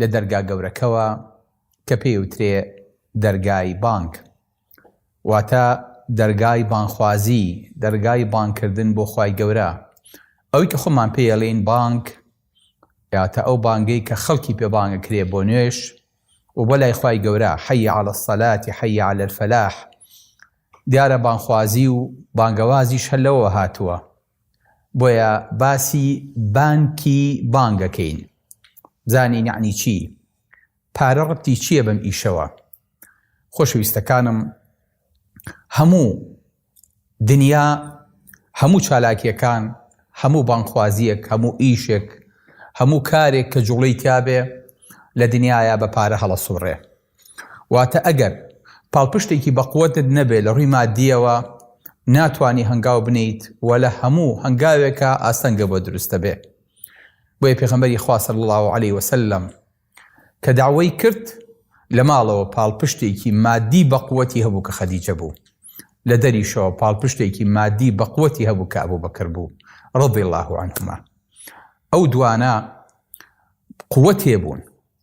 لە دەرگا گەورەکەوە کە پێی وترێ دەرگای بانگ واتە دەرگای بانخوازی دەرگای بانکردن بۆ خوای گەورە ئەوی کە خۆمان پێ یەڵین بانک یاتە ئەو بانگەی کە خەڵکی پێ بانگە کرێ بۆ نوێش و بۆ لای خوای گەورە حەی على الصلاتی حەی على الفلاح دیارە بانخوازی و بانگەوازیش هەلەوە هاتووە بۆیە باسی بانکی بانگ ئەکەین بزانین یەعنی چی پارە ڕەبتی چییە بەم ئیشەوە خۆشەویستەکانم هەموو دنیا هەموو چالاکیەکان هەموو بانخوازیەک هەموو ئیشێک هەموو کارێک کە جوڵەی تیاابێ لە دنیاە بە پارە هەڵە سوڕێ واتە ئەگەر پاڵپشتێکی بەقوەتت نەبێت لە ڕووی ماددییەوە ناتوانی هەنگاو بنیت و لە هەموو هەنگاوێکە ئاستەنگە بۆ دروستە بێ بۆیە پێغەمبەری خوا صلی الله علیه وسلم کە داوای کرد لە ماڵەوە پاڵپشتێکی مادی بەقوەتی هەبوو کە خەدیجە بوو لە دەریشەوە پاڵپشتێکی مادی بەقوەتی هەبوو کە ئەبوو بەکر بوو ڕضی الله عنهما ئەو دوانە قوتێ بوون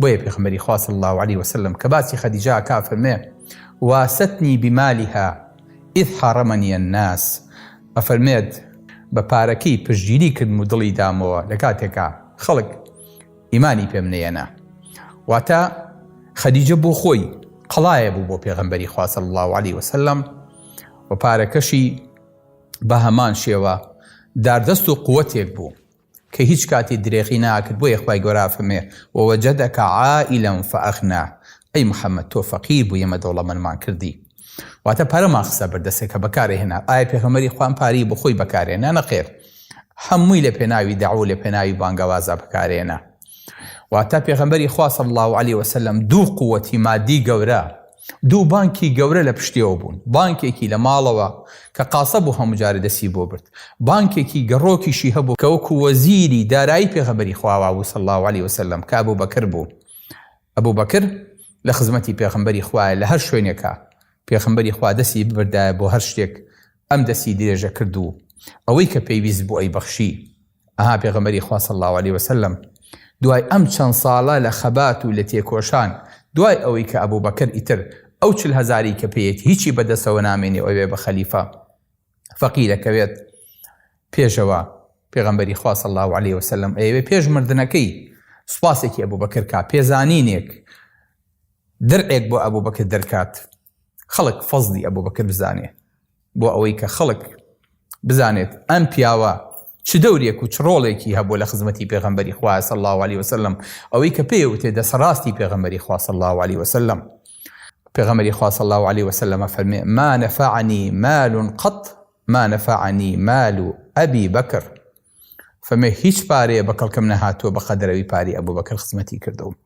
بۆیە پێخمبەری خوا صلی اللە علیە وسلم کە باسی خەدیجە ئەکا فەرمێ واستنی بمالها اذ حارمنی الناس ئەفەرمێت بە پارەکەی پشتگیری کردم و دڵی دامەوە لە کاتێکا خەڵک ئیمانی پێم نەیەنا واتە خەدیجە بۆ خۆی قەڵایە بوو بۆ پێغمبەری خوا صلی اللە علیه وسلم و پارەکەشی بە هەمان شێوە داردەست و قوتێک بوو کە هیچ کاتی درێغی ناکرد بۆیە خوای گەورە ئەفەرمێ ووجدک عائلا فاغنا ئەی محمد تۆ فەقیر بووی ئێمە دەوڵەمەندمان کردی واتە پارەمان خستە بەر دەستێ کە بەکارێ هێنا ئایا پێغەمبەری خوا ئەم پارەی بۆ خۆی بەکارهێنا نەخێر هەمووی لە پێناوی دەعوە و لە پێناوی بانگەوازا بەکارهێنا واتە پێغەمبەری خوا صلی الله علیه وسلم دوو قوتی مادی گەورە دوو بانکی گەورە لە پشتیەوە بوون بانکێکی لە ماڵەوە کە قاسە بوو هەموجارە دەسی بۆ برد بانکێکی گەڕۆکیشی هەبوو کە وەکو وەزیری دارایی پێغەمبەری خواوا بوو صلی الله علیه وسلم کە ئەبو بەکر بوو ئەبو بەکر لە خزمەتی پێغەمبەری خوایە لە هەر شوێنێکە پێغەمبەری خوا دەسی ببردایە بۆ هەر شتێک ئەم دەسی درێژە کرد و ئەوەی کە پێویست بوو ئەی بەخشی ئەها پێغەمبەری خوا صلی الله علیه وسلم دوای ئەم چەند ساڵە لە خەبات و لە تێکۆشان دوای ئەوەی کە ئەبوو بەکر ئیتر ئەو چل هەزاری کە پێیەت هیچی بەدەستەوە نامێنێ و ئەوێ بە خەلیفە فەقی دەکەوێت پێشەوە پێغەمبەری خوا صلی الله علیه وسلم ئەیەوێ پێش مردنەکەی سوپاسێکی ئەبوو بەکر کا پێزانینێک درعێک بۆ ئەبوو بەکر دەرکات خەڵک فەزلی ئەبوبەکر بزانێ بۆ ئەوەی کە خەڵک بزانێت ئەم پیاوە چ دەورێک و چ ڕۆڵێکی هەبوو لە خزمەتی پێغەمبەری خوایە صلی الله علیه وسلم ئەوەی کە پێی وتێ دەسەڕاستی پێغەمبەری خوا صلی الله علیه وسلم پێغەمبەری خوا صلی الله علیه وسلم فەرمێ ما نفعني مال قط ما نفعني مال ابي بكر فەرمێ هیچ پارەیە بە کەڵکم نەهاتووە بە قەدەرەوی پاری ئەبوو بەکر خزمەتی کردوم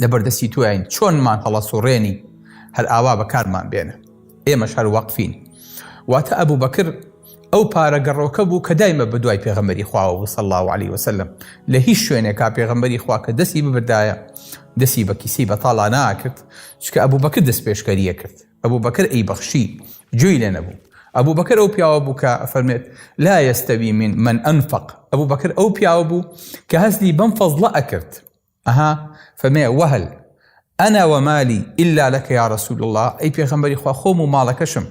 لەبەردەستی تۆین چۆنمان هەڵەسوڕێنی هەر ئاوا بەکارمان بێنە ئێمەش هەر وەقفین واتە ئەبوو بەکر ئەو پارە گەڕۆکە بوو کە دایمە بە دوای پێغەمەری خواوە بوو سەڵ و علی وسلم لە هیچ شوێنێکا پێغەمبەری خوا کە دەستی ببردایە دەستی بە کیسی بە تاڵا ناکرد چکە ئەبوو بەکر دەست پێشکەریە کرد ئەبوو بەکر ئەی بەخشی جوێی لێ نەبوو ئەبوو بەکر ئەو پیاوە بوو کە فەرمێت لا یستەوی من من ئەنفق ئەبوو بەکر ئەو پیاوە بوو کە هەزلی بەم فەزڵە ئەکرد ئەها فەمێ وەهل ئەنا وەمالی ئیلا لەکە یا رسول الله ئەی پێغەمبەری خوا خۆم و ماڵەکەشم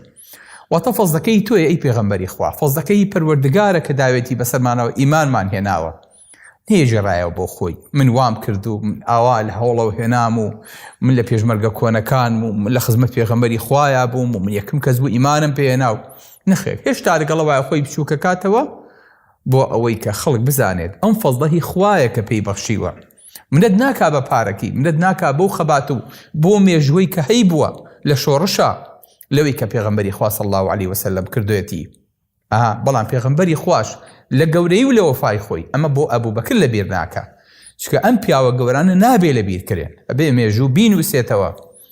واتە فەزلەکەی تۆی ئەی پێغەمبەری خوا فەزلەکەی پەروەردگارە کە داوێتی بەسەرمانەوە ئیمانمان هێناوە نێژێڕایەوە بۆ خۆی من وام کرد و من ئاوا لە هەوڵەوە هێنام و من لە پێشمەرگە کۆنەکان و من لە خزمەت پێغەمبەری خوایە بووم و من یەکم کەس بوو ئیمانم پێێنا و نەخێر هێشتا لەگەڵەوە خۆی بچووکەکاتەوە بۆ ئەوەی کە خەڵک بزانێت ئەم فەزڵە هی خوایە کە پێی بەخشیوە منەت ناکا بە پارەکەی منەت ناکا بەو خەبات و بۆ مێژووەی کە هەی بووە لە شۆڕشا لەوەی کە پێغەمبەری خوا صلی الله علیه وسلم کردوێتی ئەها بەڵام پێغەمبەری خواش لە گەورەی و لە وەفای خۆی ئەمە بۆ ئەبوو بەکر لە بیر ناکە چکە ئەم پیاوە گەورانە نابێ لە بیرکرێن ئەبێ مێژوو بینوسێتەوە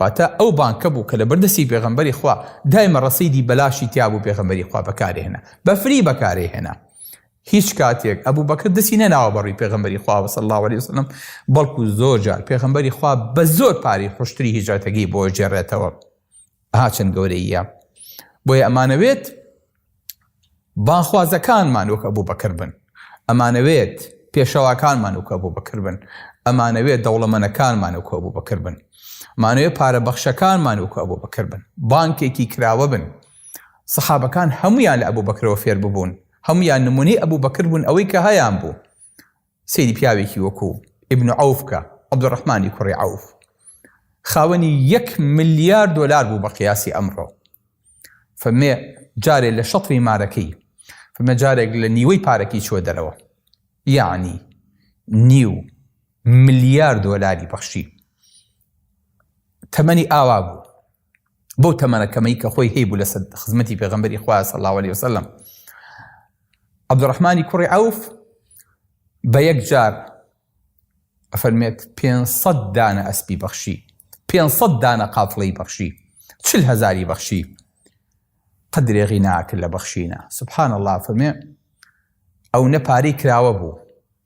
واتە ئەو بانکە بوو کە لەبەر دەستی پێغەمبەری خوا دایمە ڕەسیدی بەلاشی تیابوو پێغەمبەری خوا بەکاری هێنا بە فری بەکاری هێنا هیچ کاتێک ئەبوو بەکر دەسی نەناوە بەڕوی پێغمبەری خواوە صلی الله عليه وسلم بەڵکو زۆر جار پێغمبەری خوا بە زۆر پاری خوشتری هیجرەتەکەی بۆ جێڕێتەوە ئاچەند گەورەیە بۆیە ئەمانەوێت بانگخوازەکانمان وەک ئەبوو بەکر بن ئەمانەوێت پێشەواکانمان وکە بۆ بەکر بن ئەمانەوێت دەوڵەمەنەکانمان وکە بۆ بەکر بن مانەوێ پارە بەخشەکانمان وکە بۆ بەکر بن بانکێکی کراوە بن سەحابەکان هەمویان لە ئەبوو بەکرەوە فێر ببوون هەمویان نمونی ئەبوو بەکر بوون ئەوەی کە هەیان بوو سەیری پیاوێکی وەکوو، ئیبن عەوف، کە، عەبدولڕەحمانی کوڕی عەوف، خاوەنی یەک ملیار دۆلار بوو بە قیاسی ئەمڕۆ. فەرمێ جارێ لە شەتری مارەکەی، فەرمێ جارێک لە نیوەی پارەکەی چووە دەرەوە. یەعنی نیو ملیار دۆلاری بەخشی. تەمەنی ئاوا بوو. بەو تەمەنە کەمەی کە خۆی هەیبوو لە سەد خزمەتی پێغمبەری خوا صلی الله عليه وسلم عبدالرحمانی کوڕی عوف بە یەک جار ئەفەرمێت 500 دانە ئەسپی بەخشی 500 دانە قافڵی بەخشی چل هزاری بەخشی قدرێغی ناکرد لە بەخشینە سبحان الله فەرمێ ئەو نەپارەی کراوە بوو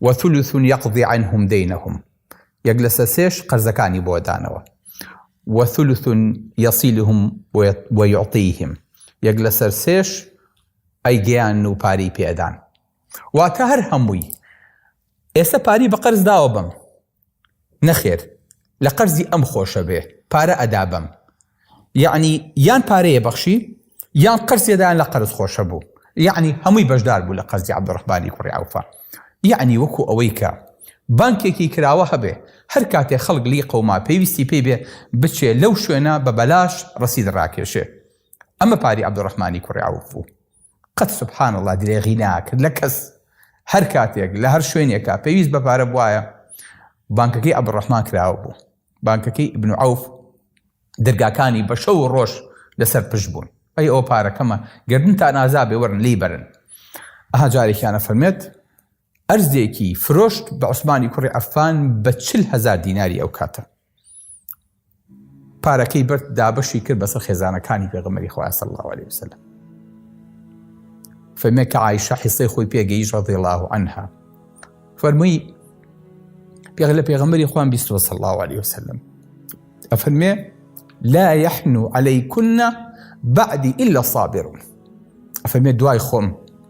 وثلث یقضی عنهم دینهم یەک لەسەر سێش قەرزەکانی بۆ دانەوە وثلث یصلهم ویعطیهم یەک لەسەر سێش ئەی گیان و پاری پێدان واتە هەر هەمووی ئێستا پاری بە قەرز داوە بم نەخێر لە قەرزی ئەم خۆشە بێ پارە ئەدا بەم یەعنی یان پارەیە بەخشی یان قەرزێدایان لە قەرز خۆشە بوو یەعنی هەمووی بەشدار بوو لە قەرزی عبدڕحبانی کوڕی عوفە یەعنی وەکو ئەوەی کە بانکێکی کراوە هەبێ هەر کاتێ خەڵک لی قەوما پێویستی پێی بێ بچێ لەو شوێنە بە بەلاش ڕسید ڕاکێشێ ئەمە پاری عبدڕحمانی کوڕی عوف بوو قەت سبحان اللە درێغی ناکرد لە کەس هەر کاتێک لە هەر شوێنێکا پێویست بە پارە بواە بانکەکەی عبدالرحمن کراوە بوو بانکەکەی ابن عوف دەرگاکانی بە شەو و ڕۆژ لەسەر پشت بوون ئەی ئەو پارەکەمە گردن تا نازابێ وەرن لی بەرن ئەها جارێکیانە فەرمێت ئەرزێکی فرۆشت بە عوسمانی کوڕی عەفان بە چل هەزار دیناری ئەو کاتە پارەکەی برد دابەشی کرد بەسەر خێزانەکانی پێغەمەری خواسە الله عليه وسلم فەرمێکە ئایشە حیسەی خۆی پێگەیش ڕەضێڵا و ئەها فەرمووی پێغ لە پێغەمەری خوان بیستوە سە الله عليه وسلم ئەفەرمێ لا يحن عليكن بعدی إلا صابرون ئەفەرمێ دوای خۆم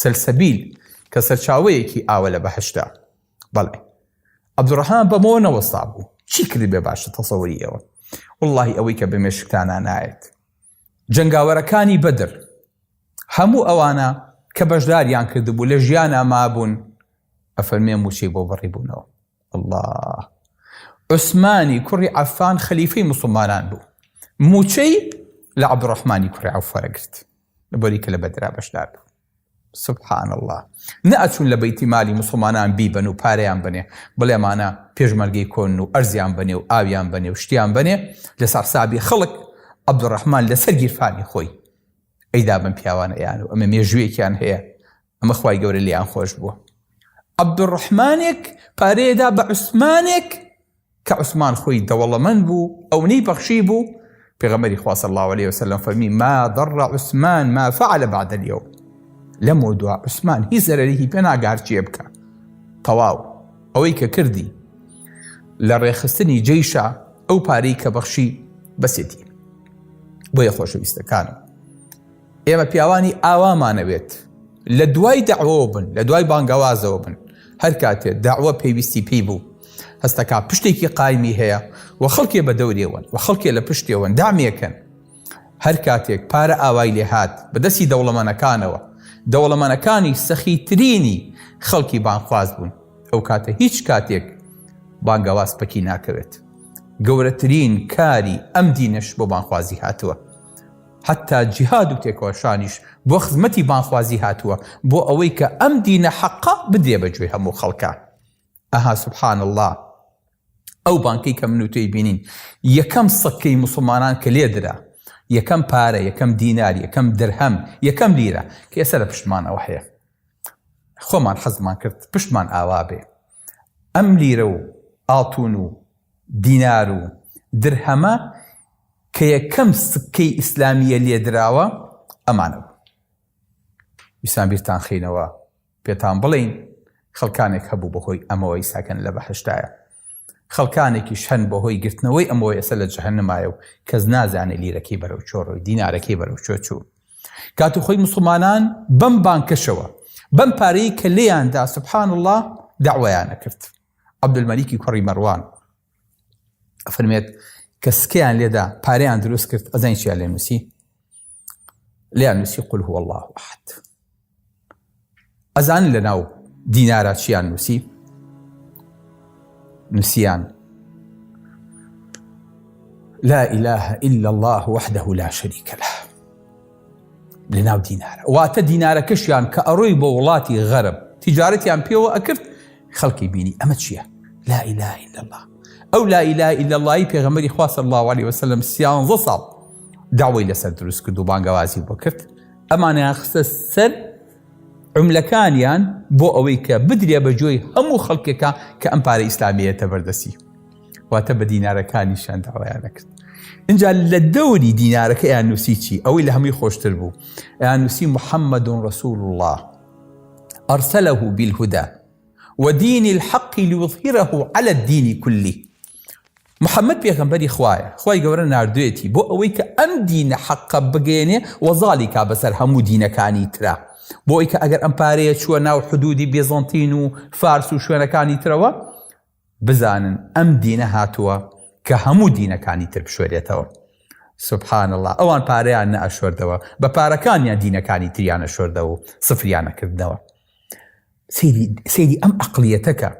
سەلسەبیل کە سەرچاوەیەکی ئاوە لە بەهەشتە. بەڵێ. عەبدولڕەحمان بەمەوە نەوەستابوو. چی کردبێ باشە تەسەوری ئێوە؟ وەڵڵاهی ئەوەی کە بە مێشکتانا نایەت. جەنگاوەرەکانی بەدر. هەموو ئەوانە کە بەشداریان کردبوو لە ژیانا مابوون ئەفەرمێ مووچەی بۆ بڕیبوونەوە. ئەڵڵا. عوسمانی کوڕی عەفان خەلیفەی موسڵمانان بوو. مووچەی لە عەبدولڕەحمانی کوڕی عەوف وەرەگرت. لەبەری کە لە بەدرا بەشدار بوو سبحان الله نە ئەچون لە بەیتی مالی مسلمانان بیبەن و پارەیان بنێ بڵێمانە پێشمەرگەی کۆن و ئەرزیان بنێ و ئاویان بنێ و شتیان بنێ لە سەرسابی خەڵک عبدڕحمان لەسەر گیرفانی خۆی ئەیدا بن پیاوانەیان و ئەمە مێژوویەکیان هەیە ئەمە خی گەورە لیان خۆش بووە عبدڕحمانێک پارەیەدا بە عوسمانێک کە عوسمان خۆی دەوڵەمەند بوو ئەونەی بەخشی بوو پێغەمبەری خوا صلی اللە علیە وسلم فەرمی ما ضر عثمان ما فعل بعد اليوم لەمەوە دوا عوسمان هیچ زەرەریکی پێ ناگار چیە بکە تەواو ئەوەی کە کردی لە ڕێخستنی جیشە ئەو پارەی کە بەخشی بەسێتی بۆیە خۆشەویستەکانم ئێمە پیاوانی ئاوامانەوێت لە دوای داوەوە بن لە دوای بانگەوازەوە بن هەر کاتێ داوە پێویستی پێی بوو هەستەکە پشتێکی قایمی هەیە و خەڵکێ بە دەورێوەن و خەڵکێ لە پشتێوەن دامێکن هەر کاتێک پارە ئاوای لێهات بەدەستی دەوڵەمەنەکانەوە دەوڵەمەنەکانی سەخیترینی خەڵکی بانخواز بوون ئەو کاتە هیچ کاتێک بانگەواز پەکی ناکەوێت گەورەترین کاری ئەم دینش بۆ بانخوازی هاتووە حەتتا جیهاد و تێکۆشانیش بۆ خزمەتی بانگخوازی هاتووە، بۆ ئەوەی کە ئەم دینە حەقە بدرێ بە گوێی هەموو خەڵکان. ئەها سبحان اللە ئەو بانکەی کە من و تۆی بینین، یەکەم سکەی موسڵمانان کە لێ درا، یەکەم پارە، یەکەم دینار، یەکەم درهەم، یەکەم لیرە کە ئێستا لە پشتمانەوە هەیە. خۆمان حەزمان کرد پشتمان ئاوا بێ. ئەم لیرە و ئاڵتون و دینار و درهەمە کە یەکەم سکەی ئیسلامییە لێ دراوە ئەمانە بوون. ویستمان بیرتان خینەوە پێتان بڵێین خەڵکانێک هەبوو بەهۆی ئەمەوەی ساکەن لە بەهشتایە. خەڵکانێکیش هەن بەهۆی گرتنەوەی ئەمەوەی ئەسە لە جەهەنمایە و کەس نازانێ لیرەکەی بەرەو چۆڕ و دینارەکەی بەرەو چۆ چوو. کات و خۆی مسوڵمانان بەم بانکەشەوە بەم پارەی کە لێیاندا سبحان الله داوایانە کرد عبدمەلیکی کوڕی مەڕوان ئەفرمێت کە سکیان لێدا پاریان دروست کرد ئەزانین چیان لێ نووسی لێیان نووسی قل هو الله احد ئەزانن لە ناو دینارا چیان نووسی نووسیان لا إله إلا الله وحده لا شريك له لە ناو دینارە واتە دینارەکەشیان کە ئەڕۆی بۆ وڵاتی غەرب تیجارەتیان پێوە ئەکرد خەڵکی بینی ئەمە چییە لا إله إلا الله ئەو لا إله إلا اللهی پێغەمەری خواست الله عليه وسلم سیانزە ساڵ داوای لەسەر دروست کرد و بانگەوازی بۆ کرد ئەمانیان خستە سەر عملەکانیان بۆ ئەوەی کە بدرێ بە جۆی هەموو خەڵکێکە کە ئەم پارە ئیسلامیەتە بەردەسی واتە بە دینارەکانی شانداوایان نەکرد اینجا لە دەوری دینارەکە یان نووسی چی ئەوەی لە هەمووی خۆشتر بوو یان نووسی محەممەد و ڕسول الله ئەرسەلە و بیلهودا ودینی الحەقی لوظهیرە و على الدینی کولی محمد پێغەمبەری خوایە خوای گەورە ناردوێتی بۆ ئەوەی کە ئەم دینە حەقە بگەیەنێ و زاڵی کا بەسەر هەموو دینەکانی ترا بۆ ئەوەی کە ئەگەر ئەم پارەیە چووە ناو حدودی بێزەنتین و فارس و شوێنەکانی ترەوە بزانن ئەم دینە هاتووە کە هەموو دینەکانی تر بشوێرێتەوە سبحان الله ئەوان پارەیان نەئەشوردەوە بە پارەکانیان دینەکانی تریانە شوردەوە و سفریانە کردنەوە سەیری ئەم ئەقلیەتەکە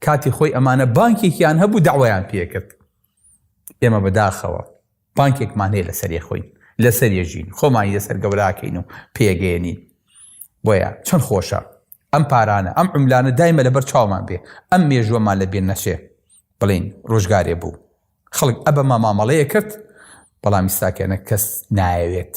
کاتی خۆی ئەمانە بانکێکیان هەبوو داوایان پێکرد ئێمە بەداخەوە بانکێکمان هەیە لەسەر یەخۆین لەسەر یەژین خۆمانی لەسەر گەوراکەین و پێگەێنین بۆیە چەند خۆشە ئەم پارانە ئەم عملانە دایمە لەبەر چاومان بێ ئەم مێژوەمان لە بێن نەچێ بڵین ڕۆژگارێ بوو خەڵک ئەبەما مامەڵەیە کرد بەڵام میستاکەێنە کەس نایەوێت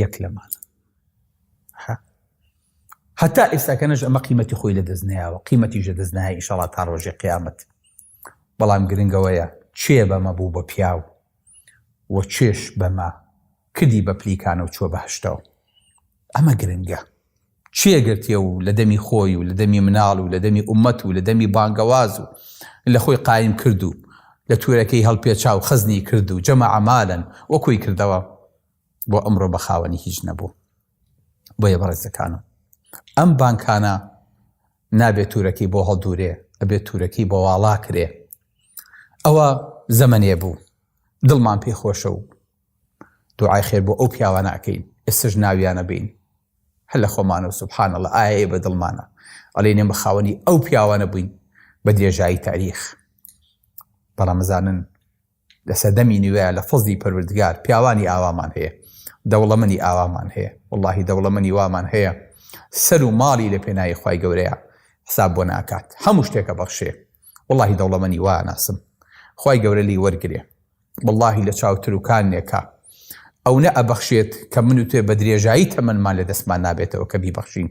یەک لەمان هەتا ئێستاکەنەش ئەمە قیمەتی خۆی لە دەست نایەوە قیمەتی ژە دەست نایە ئیشەڵا تا ڕۆژێ قیامەت بەڵام گرنگەوەیە چێ بەمە بوو بە پیاو و چێش بەمە کردی بە پلیکانە و چوە بەهشتەوە ئەمە گرنگە کوێ گرتیە و لە دەمی خۆی و لە دەمی مناڵ و لە دەمی ئومەت و لە دەمی بانگەواز و لە خۆی قایم کرد و لە تورەکەی هەڵپێچا و خەزنی کرد و جەمع مالا و کۆی کردەوە بۆ ئەمڕۆ بە خاوەنی هیچ نەبوو بۆیە بەڕێزەکانم ئەم بانکانە نابێت تورەکەی بۆ هەڵدورێ ئەبێت تورەکەی بۆ واڵا کرێ ئەوە زەمەنێ بوو دڵمان پێ خۆشە و دوعای خێر بۆ ئەو پیاوانە ئەکەین ئێستش ناویانە بین هەر لە خۆمانەوە سبحان اللە ئایا ئێ بە دڵمانە ئەڵێین ئێمە خاوەنی ئەو پیاوانە بووین بە درێژایی تاریخ بەڵام زانن لە سەدەمی نوێ لە فەزی پەروردگار پیاوانی ئاوامان هەیە دەوڵەمەنی ئاوامان هەیە واللهی دەوڵەمەنی وامان هەیە سەر و ماڵی لە پێناایی خی گەورەیە حساب بۆ ناکات هەموو شتێکە بەخشێ واللهی دەوڵەمەنی وا ناسم خی گەورە لی وەرگێ وەڵاهی لە چاو تروکانێکە ئەونە ئەبەخشێت کە من و تۆێ بە درێژایی تەمەنمان لە دەستمان نابێتەوە کە بیبەخشین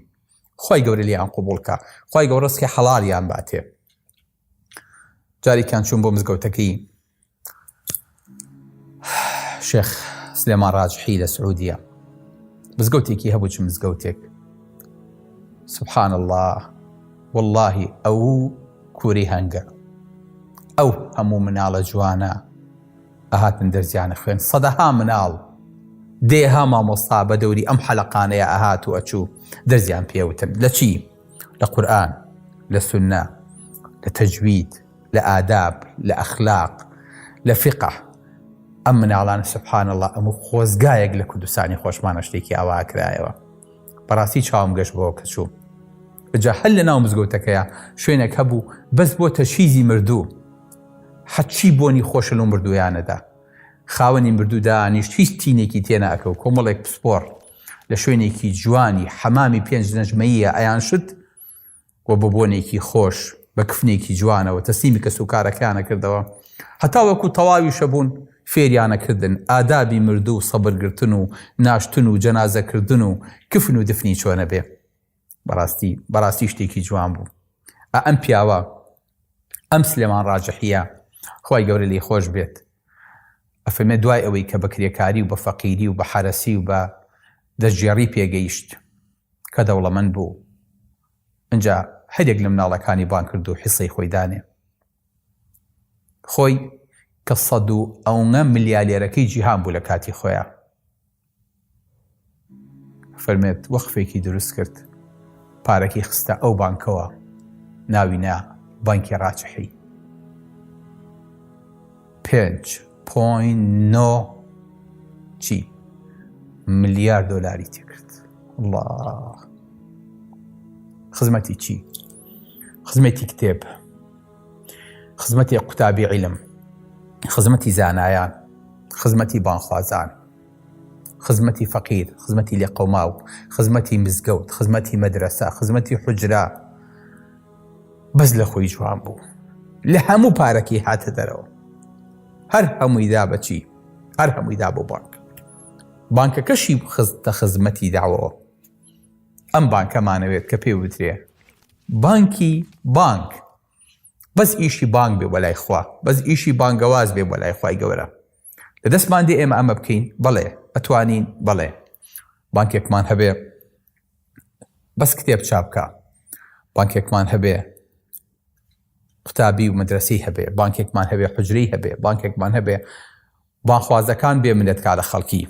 خی گەورە لیان قوبولکە خی گەورەسکی حەڵالیان باتێ جارێکیان چوون بۆ مزگەوتەکەی شێخ سلێمان ڕاجحی لە سعودیە مزگەوتێکی هەبوو چ مزگەوتێک سبحان الله وەڵاهی ئەوو کوری هەنگە ئەو هەموو مناڵە جوانە ئەهاتن دەرزیانە خوێن سەدەها مناڵ دێها مامۆستا بە دەوری ئەم حەلقانەیە ئەهات و ئەچوو دەرزیان پێوتن لە چی لە قورآن لە سنە لە تەجوید لە ئاداب لە ئەخلاق لە فقە ئەم مناڵان سبحان الله ئەمو خۆزگایەک لە کوردستانی خۆشمانە شتێکی ئاواکرایەوە بەڕاستی چاوم گەشت بۆ کە چوو جا هەر لە ناو مزگەوتەکەیە شوێنێک هەبوو بەس بۆ تەشیزی مردوو حەچی بۆنی خۆشن و مردویانەدا خاوەنی مردوو دانیشت هیچ تینێکی تێناکە و کۆمەڵێک پسپۆر لە شوێنێکی جوانی حەمامی پێنج نەژمەیە ئەیان شت و بە بۆنێکی خۆش، بە کفنێکی جوانەوە تەسلیمی کەسوکارەکەیانە کردەوە، هەتاوەکو تەواویشە بوون، فێریانە کردن ئادابی مردوو و سەبر گرتن و ناشتن و جەنازە کردن و کفن و دفنی چۆنەبێ. بەڕاستی، بەڕاستی شتێکی جوان بوو. ئا ئەم پیاوە، ئەم سلێمان ڕاجحیە، خوای گەورە لێی خۆش بێت، ئەفەرمێ دوای ئەوەی کە بە کرێکاری و بە فەقیری و بە حەرەسی و بە دەستگێڕی پێگەیشت، کە دەوڵەمەند بوو ئنجا هەر یەک لە مناڵەکانی بانگ کرد و حیسەی خۆی دانێ خۆی کە سەد و ئەونە ملیالێرەکەی جیهان بوو لە کاتی خۆیان فەرمێت وەخفێکی دروست کرد پارەکی خستە ئەو بانکەوە ناوی نا بانکی ڕاچحی پێنج پۆینت نۆ چی ملیار دۆلاری تێکرد الله خزمەتی چی خزمەتی کتێب خزمەتی قوتابی عیلم خزمەتی زانایان خزمەتی بانخوازان خزمەتی فەقیر خزمەتی لێقەوماو خزمەتی مزگەوت خزمەتی مەدرسە خزمەتی حجرا بەس لە خۆی جوان بوو لە هەموو پارەکەی هاتە دەرەوە هەر هەمووی دا بەچی هەر هەمووی دا بۆ بانک بانکەکەشی خستە خزمەتی داوەوە ئەم بانکەمانەوێت کە پێ وترێ بانکی بانک بەس ئیشی بانک بێ بەلای خوا بەس ئیشی بانگەواز بێ بەلای خی گەورە لە دەستمان دێ ئێمە ئەمە بکەین بەڵێ ئەتوانین بەڵێ بانکێکمان هەبێ بەس کتێب چابکە بانکێکمان هەبێ قوتابی و مدرسەی هەبێ بانکێکمان هەبێ حجرەی هەبێ بانکێکمان هەبێ بانخوازەکان بێ منەت کارە خەڵکی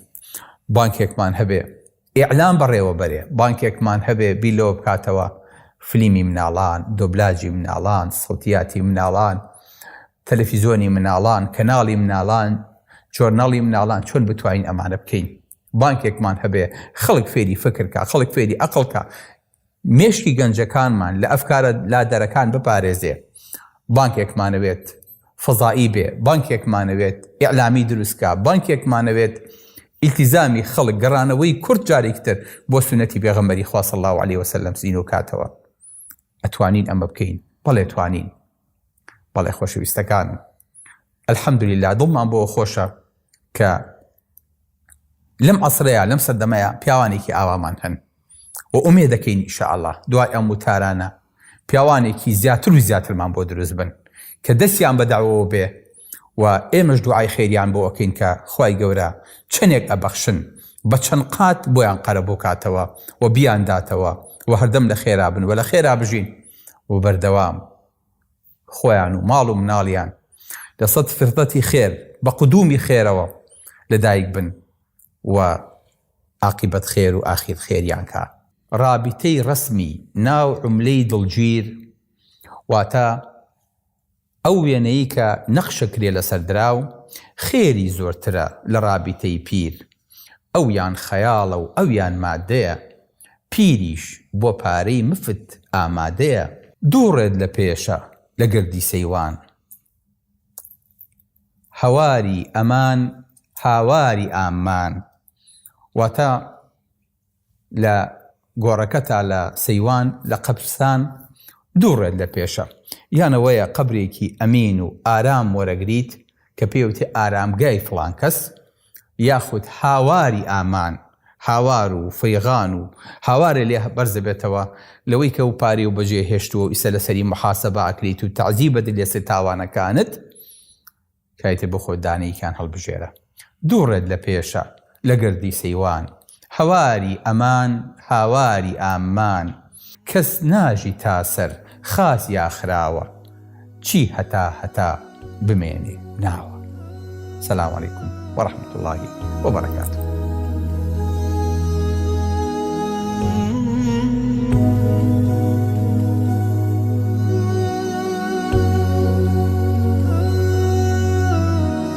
بانکێکمان هەبێ ئیعلام بەڕێوە بەرێ بانکێکمان هەبێ بیلەوە بکاتەوە فلیمی مناڵان دۆبلاجی مناڵان سەوتیاتی مناڵان تەلەفیزۆنی مناڵان کەناڵی مناڵان جۆرناڵی مناڵان چۆن بتوانین ئەمانە بکەین بانکێکمان هەبێ خەڵک فێری فکر کا، خەڵک فێری ئەقڵ کا، مێشکی گەنجەکانمان لە ئەفکارە لادەرەکان بپارێزێ، بانکێکمانەوێت فەزایی بێ، بانکێکمانەوێت ئیعلامی دروست کا، بانکێکمانەوێت ئیلتیزامی خەڵک، گەڕانەوەی کورد جارێکی تر بۆ سوننەتی پێغەمبەری خوا صلی اللە علیه وسلم زینۆ کاتەوە. ئەتوانین ئەمە بکەین؟ بەڵێ توانین. بەڵێ خۆشەویستەکانم. الحمدللە دڵمان بۆ خۆشە کە لەم عەسرەیە لەم سەردەمەیە پیاوانێکی ئاوامان هەن و ئومێ دەکەین ئیشاءله دوای ئەم وتارانە پیاوانێکی زیاتر و زیاترمان بۆ دروست بن کە دەستیان بە داوەوە بێ و ئێمەش دوعای خێریان بۆ ئەکەین کە خی گەورە چەندێک ئەبەخشن بە چەند قات بۆیان قەرە بۆ کاتەوە و بیانداتەوە و هەردەم لە خێرا بن و لە خێرا بژین و بەردەوام خۆیان و ماڵ و مناڵیان لە سەد فرسەتی خێر بە قدوومی خێرەوە لە دایک بن و ئاقیبەت خێر و ئاخیر خێریان کا. رابیتەی رەسمی ناو عوملەی دڵگیر واتە ئەو وێنەی کە نەخشە کرێ لەسەر دراو خێری زۆرترە لە رابیتەی پیر ئەویان خەیاڵە و ئەویان مادەیە. پیریش بۆ پارەی مفت ئامادەیە. دوو ڕێت لە پێشە لە گردی سەیوان. هەواری ئەمان هاواری ئاممان واتە لە گۆڕەکە تا لە سەیوان لە قەبرستان دوو ڕێت لە پێشە. یان ئەوەیە قەبرێکی ئەمین و ئارام وەرەگریت کە پێوتی ئارامگای فڵان کەس یاخود هاواری ئامان، هاوار و فیغان و هاوارێ لێ بەرز ئەبێتەوە لەوەی کە ئەو پارەیەو بەجێ هێشتووە و ئیستا لەسەری محاسەبە ئەکریت و تەعزیب ئەدریت لەسەر تاوانەکانت، کایتێ بخۆ دانەیەکیان هەڵبژێرە. دوو ڕێت لە پێشە لە گردی سەیوان حەواری ئەمان هاواری ئاممان کەس ناژی تا سەر خاس یا خراوە چی هەتا هەتا بمێنێ ناوە سلام علیکم و رحمت اللە و بەرکاتوه.